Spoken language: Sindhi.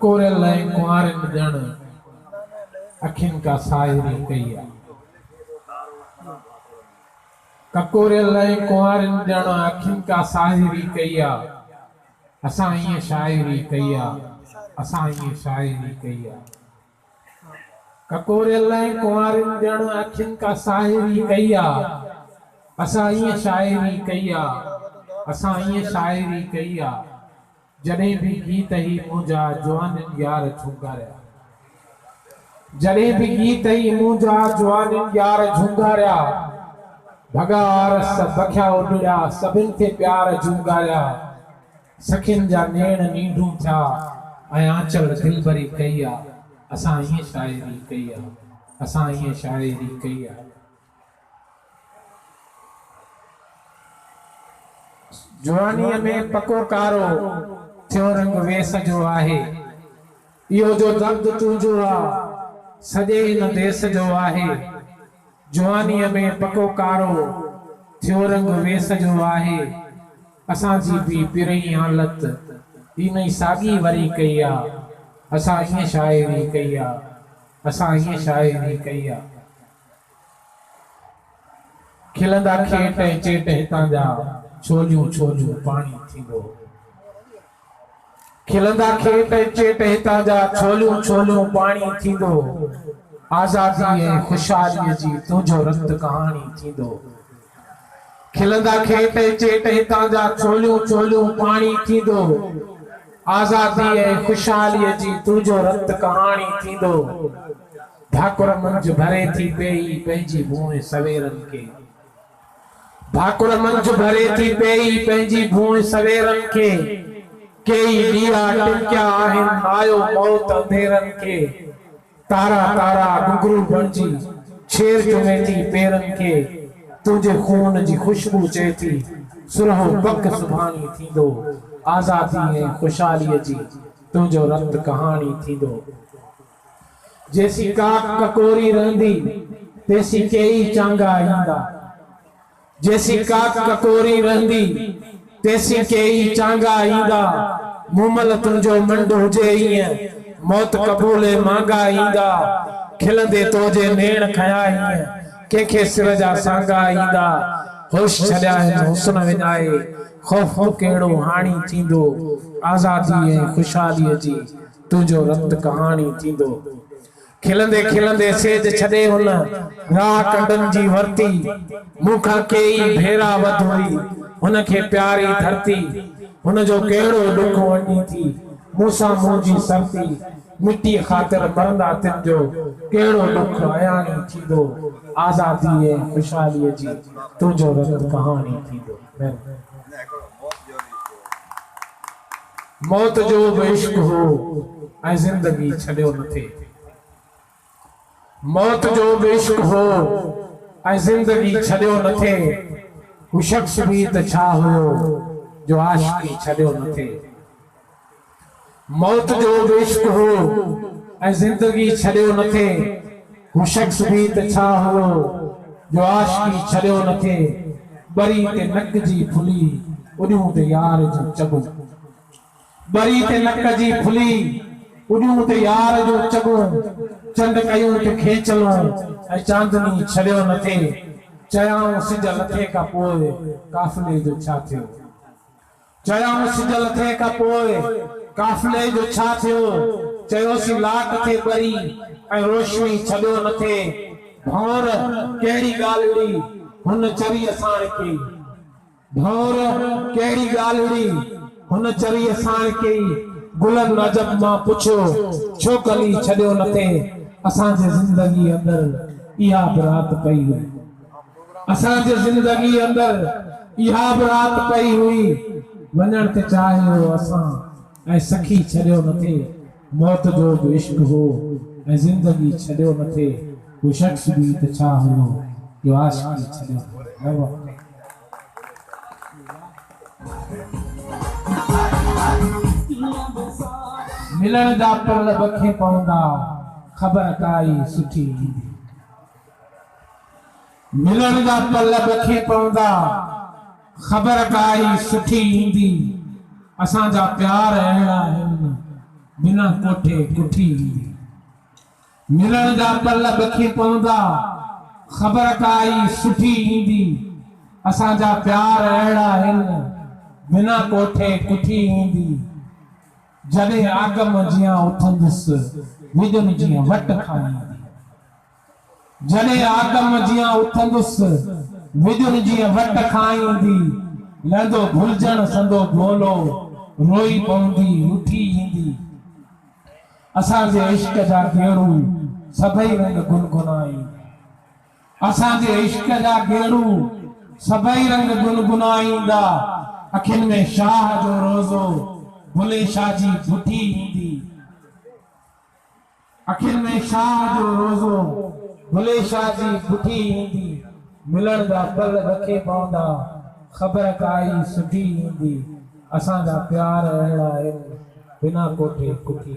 ڪوريل لاء ڪنوارين ڄڻ اکين ڪا ساهري ڪئي آ. ڪڪوريل لاء ڪنوارين ڄڻ اکين ڪا ساهري ڪئي آ. اسان ائين شاعري ڪئي آ. اسان ائين شاعري ڪئي آ. ڪڪوريل ۽ ڪنوارين ڄڻ اکين ڪا ساهري ڪئي آ اسان ائين شاعري ڪئي آ اسان ائين شاعري ڪئي آ جڏهن به گيت هي منهنجا جوانين يار جهونگاريا جڏهن به گيت هي منهنجا جوانين يار جهونگاريا ڀڳا آرس بکيا اڏڙيا سڀن کي پيار جهونگاريا. سخين جا نيڻ نينڍون ٿيا ۽ آنچل دلبري ڪئي آ اسان ائين شاعري ڪئي آ اسان ائين شاعري ڪئي آ. جوانيء ۾ پڪو ڪارو ٿيو رنگ ويس جو آهي. اهو جو درد تنهنجو آ، سڄي هن ديس جو آهي. جوانيء ۾ پڪو ڪارو ٿيو رنگ ويس جو آهي. اسان جي به پرئين حالت هن ئي ساڳي وري ڪئي آ. اسان ائين شاعري ڪئي آ. اسان ائين شاعري ڪئي آ. کلندا کيٽ ۽ چيٽ هتان جا، ڇوليون ڇوليون پاڻي ٿيندو. کلندا کيٽ ۽ چيٽ هتان جا، ڇوليون ڇوليون پاڻي ٿيندو. آزادي ۽ خوشحالي جي تنهنجو رت ڪهاڻي ٿيندو. کلندا کيٽ ۽ چيٽ هتان جا چوليون چوليون پاڻي ٿيندو آزادي ۽ خوشحالي جي تنهنجو رت ڪهاڻي ٿيندو ڀاڪر منجهه ڀري ٿي پيئي پنهنجي ڀونء سويرن کي ڀاڪر منجهه ڀري ٿي پيئي پنهنجي ڀونء سويرن کي ڪيئي ڏيئا ٽمڪيا آهن نايو موت انڌيرن کي تارا تارا گهگهرو بڻجي ڇير چمي ٿي پيرن کي تنهنجي خون جي خوشبو چئي ٿي سرهو پک سڀاڻي ٿيندو آزادي ۽ خوشحالي جي تنهنجو رت ڪهاڻي ٿيندو جيسين ڪاڪ ڪڪوري رهندي تيسين ڪيئي چانگا ايندا. جيسين ڪاڪ ڪڪوري رهندي، تيسين ڪيئي چانگا ايندا، مومل تنهنجو منڍ هجي ايئن، موت قبولي مانگا ايندا، کلندي تو جي نيڻ کنيا ايئن، ڪنهن کي سر جا سانگا ايندا، هوش ڇڏيائين حسن وڃائي، خوف تو ڪهڙو هاڻي ٿيندو، آزادي ۽ خوشحاليء جي تنهنجو رت ڪهاڻي ٿيندو. کلندي کلندي سيج ڇڏي هن راهه ڪنڊن جي ورتي مون کان ڪيئي ڀيرا وڌ هئي هن کي پياري ڌرتي هن جو ڪهڙو ڏک ونڊي ٿي مون سان منهن جي سرتي مٽي خاطر مرندا تن جو ڪهڙو ڏک اياڻي ٿيندو آزادي ۽ خوشحالي جي تنهنجو رت ڪهاڻي ٿيندو. موت جو به عشق هو ۽ زندگي ڇڏيو نه ٿي. موت جو به عشق هو ۽ زندگي ڇڏيو نه ٿي. هو شخص به ته ڇا هيو جو عاشقي ڇڏيو نه ٿي. موت جو به عشق هو ۽ زندگي ڇڏيو نه ٿي، هو شخص به ته ڇا هئو جو عاشقي ڇڏيو نه ٿي، ٻري تي نڪ جي ڦلي اڏيون ته يار جون چڳون. ٻري تي نڪ جي ڦلي اڏيون ته يار جون چڳون، چنڊ ڪيون ٿي کيچلون ۽ چاندني ڇڏيو نه ٿي، چيائون سج لٿي کان پوء قافلي جو ڇا ٿيو؟ چيائون سج لٿڻ کان پوء قافلي جو ڇا ٿيو؟ چيوسين لاٽ ٿي ٻري ۽ روشني ڇڏيو نه ٿي. ڀنور ڪهڙي ڳالهڙي هن چري اساڻ ڪئي؟ ڀنور ڪهڙي ڳالهڙي هن چري اساڻ ڪئي؟ گلن عجب مان پڇيو ڇو ڪلي ڇڏيو نه ٿي؟ اسان جي زندگي اندر اها به رات پئي وئي. اسان جي زندگي اندر اها به رات پئي هئي، وڃڻ ته چاهي هو اسان ۽ سکي ڇڏيو نه ٿي، موت جو به عشق هو ۽ زندگي ڇڏيو نه ٿي، هو شخص به ته ڇا هوندو جو عاشقي ڇڏيو نه ٿي. واهه واهه. ملڻ جا پرل بکين پوندا، خبر ڪائي سٺي ايندي. ملڻ جا پل ڏکي پوندا، خبر ڪا ئي سٺي ايندي، اسان جا پيار اهڙا آهن، بنا ڪوٺي ڪٺي ايندي. ملڻ جا پل ڏکي پوندا، خبر ڪا ئي سٺي ايندي، اسان جا پيار اهڙا آهن، بنا ڪوٺي ڪٺي ايندي. جڏهن آگم جيان اٿندس، وڄن جيان وٽ کان ايندي. جڏهن آدم جيان اٿندس، وڄن جيئن وٽ کان ايندي، لهندو ڀلجڻ سندو گولو، روئي پوندي اٿي ايندي. اسان جي عشق جا گيڙو، سڀئي رنگ گنگنا ايندي. اسان جي عشق جا گيڙو، سڀئي رنگ گنگنا ايندا. اکين ۾ شاهه جو روزو، بلي شاهه جي بٺي ايندي. اکين ۾ شاهه جو روزو، بلي شاهه جي بٺي ايندي، ملڻ جا پل رکي پوندا، خبر ڪائي سٺي ايندي، اسان جا پيار اهڙا آهن، بنا ڪوٺي ڪٺي.